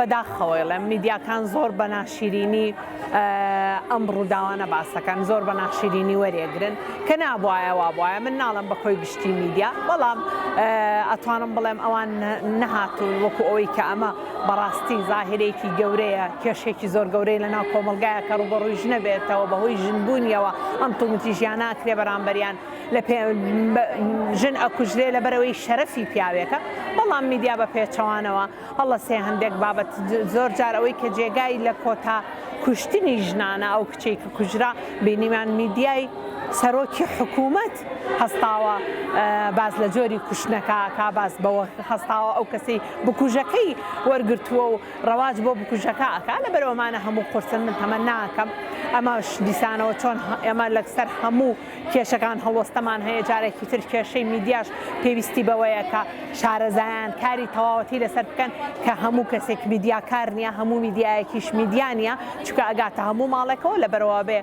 بەداخەوە ئەڵێم میدیاکان زۆر بە ناشیرینی ئەم ڕووداوانە باس دەکەن زۆر بە ناشیرینی وەریەگرن کە نابوایە وابوایە من ناڵم بە کۆی گشتی میدیا بەڵام ئەتوانم بڵێم ئەوان نەهاتون وەکو ئەوەی کە ئەمە بەڕاستی زاهرێکی گەورەیە کێشێکی زۆر گەورەی لە ناو کۆمەلگایە کە ڕوبەڕوی ژنە بێتەوە بەهۆی ژنبوونیەوە ئەم توندتی ژیانە ئەکرێ بەرامبەریان لە پێ ژن ئەکوژرێ لەبەرەوەی شەرەفی پیاوێکە بەڵام میدیا بە پێچەوانەوە هەڵە سێ هەندێک بابەت زۆر جار ئەوەی کە جێگای لە کۆتا کوشتنی ژنانە ئەو کچەی کە کوژرا بینیمان میدیای سەرۆکی حکوومەت هەستاوە باس لە جۆری کوشتنەکە کا باس بەوە هەستاوە ئەو کەسی بکوژەکەی وەرگرتووە و ڕەواج بۆ بکوژەکە ئەکا لە بەرەوەمانە هەموو قرسن من تەمە ناکەم ئەمەش دیسانەوە چۆن ئێمە لەسەر هەموو کێشەکان هەڵوەستەمان هەیە، جارێکی تر کێشەی میدیاش پێویستی بەوەیە کە شارەزایان کاری تەواوەتی لەسەر بکەن کە هەموو کەسێک میدیاکار نییە، هەموو میدیایەکیش میدیا نییە، چونکە ئەگاتە هەموو ماڵێکەوە، لەبەرئەوەبێ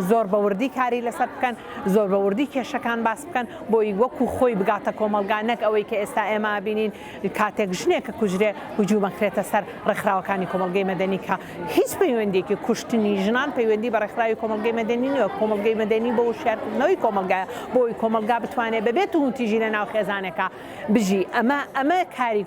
زۆر بە وردی کاری لەسەر بکەن، زۆر بە وردی کێشەکان باس بکەن، بۆی وەکو خۆی بگاتە کۆمەڵگا، نەک ئەوەی کە ئێستا ئێمە ئەبینین کاتێک ژنێک ئەکوژرێ هجووم ئەکرێتە سەر ڕێکخراوەکانی کۆمەڵگەی مەدەنی کە هیچ پەیوەندیەکی کوشتنی ژنان پەیوەندی بە ڕێکخراوی کۆمەڵگەی مەدەنی نیە، کۆمەڵگەی مەدەنی بۆ وشیارکردنەوەی کۆمەڵگایە بۆ ئەوەی کۆمەڵگا بتوانێت بەبێ توندوتیژی لە ناو خێزانێکا بژی ئەمە ئەمە کاری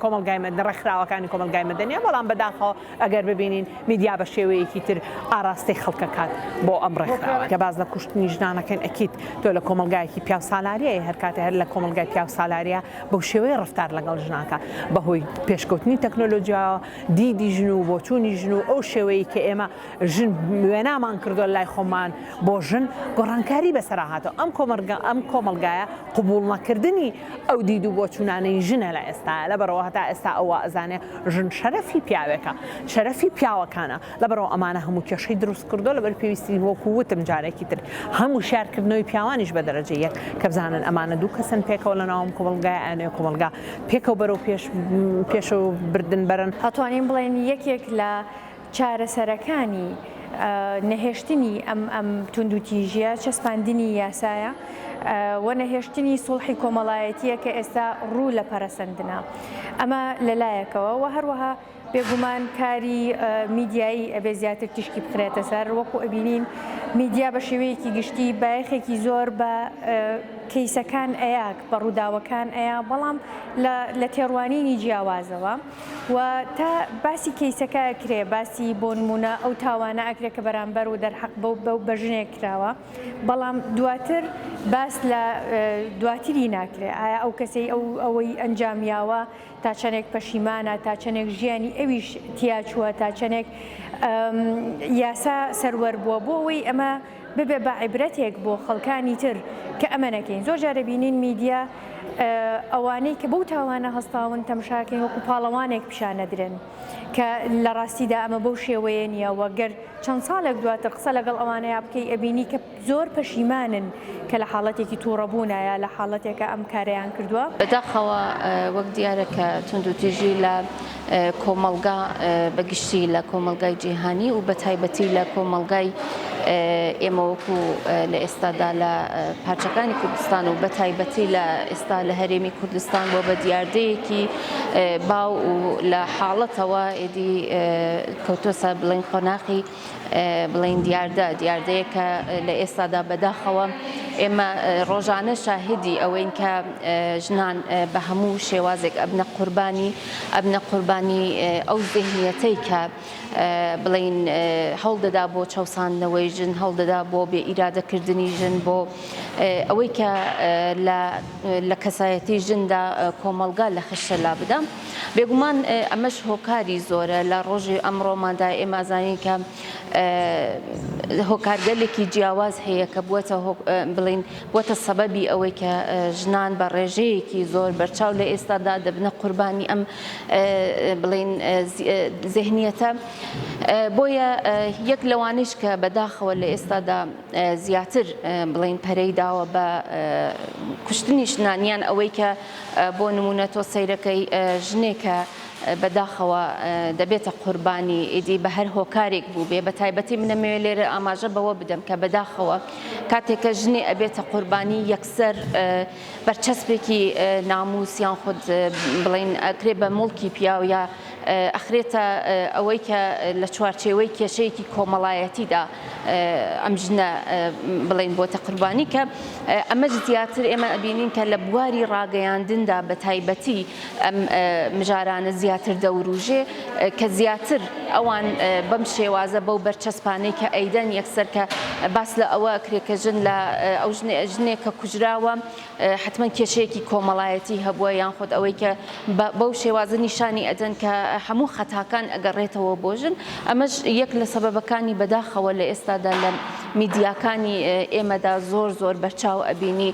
کۆمەڵگای مەدەنی ڕێکخراوەکانی کۆمەڵگای مەدەنیە بەڵام بەداخەوە ئەگەر ببینین میدیا بە شێوەیەکی تر ئاراستەی خەڵک ئەکات بۆ ئەم ڕێکخراوە کە باس لە کوشتنی ژنان ئەکەین ئەکید تۆ لە کۆمەڵگایەکی پیاوسالاریی هەر کاتێ هەر لە کۆمەڵگای پیاوسالاریە بەو شێوەیە ڕەفتار لەگەڵ ژنان ئەکات بەهۆی پێشکەوتنی تەکنۆلۆجیاوە دیدی ژن و بۆچوونی ژن و ئەو شێوەیەی کە ئێمە ژن وێنامان کردووە لای خۆمان بۆ ژن گۆڕانکاری بەسەرا هاتەوە ئەم کۆمەرگە ئەم کۆمەلگایە قبوڵ نەکردنی ئەو دید و بۆچوونانەی ژنە لە ئێستا لەبەرەوە هەتا ئێستا ئەوە ئەزانێ ژن شەرەفی پیاوێکە شەرەفی پیاوەکانە لەبەرئەوە ئەمانە هەموو کێشەی دروست کردووە، لەبەر پێویستین وەکو وتم جارێکی تر هەم وشیار کردنەوەی پیاوانیش بە دەرەجە یەک کە بزانن ئەمانە دوو کەسن پێکەوە لە ناو ئەم کۆمەڵگایە ئەیانەوێت کۆمەڵگا پێکەوە بەرەو پێش پێشەوە بردن بەرن. ئەتوانین بڵێین یەکێک لە چارەسەرەکانی نەهێشتنی ئەم ئەم توندوتیژییە چەسپاندنی یاسایە و نەهێشتنی سوڵحی کۆمەڵایەتییە کە ئێستا ڕوو لە پەرەسەندنە. ئەمە لە لایەکەوە و هەروەها بێگومان کاری میدیایی ئەبێ زیاتر تیشکی بخرێتە سەر وەکو ئەبینین میدیا بە شێوەیەکی گشتی بایەخێکی زۆر بە کەیسەکان ئەیاک بە ڕووداوەکان ئەیا بەڵام لە تێڕوانینی جیاوازەوە و تا باسی کەیسەکە کرێ باسی بۆ نمونە ئەو تاوانە ئەکرێت کە بەرامبەر و دەرحەق بەو بەو بەژنێک کراوە بەڵام دواتر باس لە دواتری ناکرێت ئایا ئەو کەسەی ئەو ئەوەی ئەنجامیاوە تا چەنێک پەشیمانە، تا چەنێک ژیانی ئەویش تیاچووە، تا چەنێک یاسا سەروەر بووە بۆ ئەوەی ئەمە ببێ بە عیبرەتێک بۆ خەڵکانی تر کە ئەمە نەکەین زۆر جارە بینین میدیا ئەوانەی کە بەو تاوانە هەستاون تەمشاکەین وەکو پاڵەوانێک پیشانەدرێن کە لە ڕاستیدا ئەمە بەو شێوەیە نییە وەگەر چەند ساڵێک دواتر قسە لەگەڵ ئەوانەیە بکەی ئەبینی کە زۆر پەشیمانن کە لە حاڵەتێکی تووڕەبوونایە لە حاڵەتێکە ئەم کارەیان کردووە. بەداخەوە وەک دیارە کە توندوتیژی لە کۆمەڵگا بە گشتی لە کۆمەڵگای جیهانی و بەتایبەتی لە کۆمەڵگای ئێمە وەکو لە ئێستادا لە پارچەکانی کوردستان و بەتایبەتی لە ئێستا لە هەرێمی کوردستان بۆ بە دیاردەیەکی باو و لە حاڵەتەوە ئێدی کەوتۆسە بڵێن قۆناخی بڵێین دیاردە، دیاردەیەک کە لە ئێستادا بەداخەوە ئێمە ڕۆژانە شاهدی ئەوەین کە ژنان بە هەموو شێوازێک ئەبنە قوربانی ئەبنە قوربانی ئەو زهنیەتەی کە بڵین هەڵدەدا بۆ چەساندنەوەی ژن هەڵدەدا بۆ بێ ئیرادەکردنی ژن بۆ ئەوەی کە لە کەسایەتی ژندا کۆمەلگا لە خشتە لا بدەم. بێگومان ئەمەش هۆکاری زۆرە لە ڕۆژی ئەمڕۆماندا ئێمە ئەزانین کە هۆکارگەلێکی جیاواز هەیە کە بووە بڵین بۆتە سەبەبی ئەوەی کە ژنان بە ڕێژەیەکی زۆر بەرچاو لە ئێستادا دەبنە قوربانی ئەم بڵین زهنیەتە بۆیە یەک لەوانش کە بەداخەوە لە ئێستادا زیاتر بڵین پەرەی داوە بە کوشتنی ژنانیان ئەوەی کە بۆ نموونە تۆ سەیرەکەی ژنێکە بەداخەوە دەبێتە قوربانی ئیدی بە هەر هۆکارێک بوو بێ بە تایبەتی منەمەوێ لێرە ئاماژە بەوە بدەم کە بەداخەوە کاتێکە ژنێ ئەبێتە قوربانی یەکسەر بەرچەسپێکی ناموسیان خود بڵین ئەکرێ بە مڵکی پیاو یا ئەخرێتە ئەوەی کە لە چوارچێوەی کێشەیەکی کۆمەڵایەتیدا ئەم ژنە بڵین بۆتە قوربانی کە ئەمەش زیاتر ئێمە ئەبینین کە لە بواری ڕاگەیاندندا بە تایبەتی ئەم مژارانە زیاتر دەوروژێ کە زیاتر ئەوان بەم شێوازە بەو بەرچەسپانەی کە ئەیدەن یەکسەر کە باس لە ئەوە کرێکە ژن لە ئەو ژنێک کە کوژراوە حەتمەن کێشەیەکی کۆمەڵایەتی هەبووە یان خود ئەوەی کە بەو شێوازە نیشانی ئەدەن کە هەموو خەتاکان ئەگەڕێتەوە بۆ ژن ئەمەش یەک لە سەبەبەکانی بەداخەوە لە ئێستادا لە میدیاکانی ئێمەدا زۆر زۆر بەرچاو ئەبینی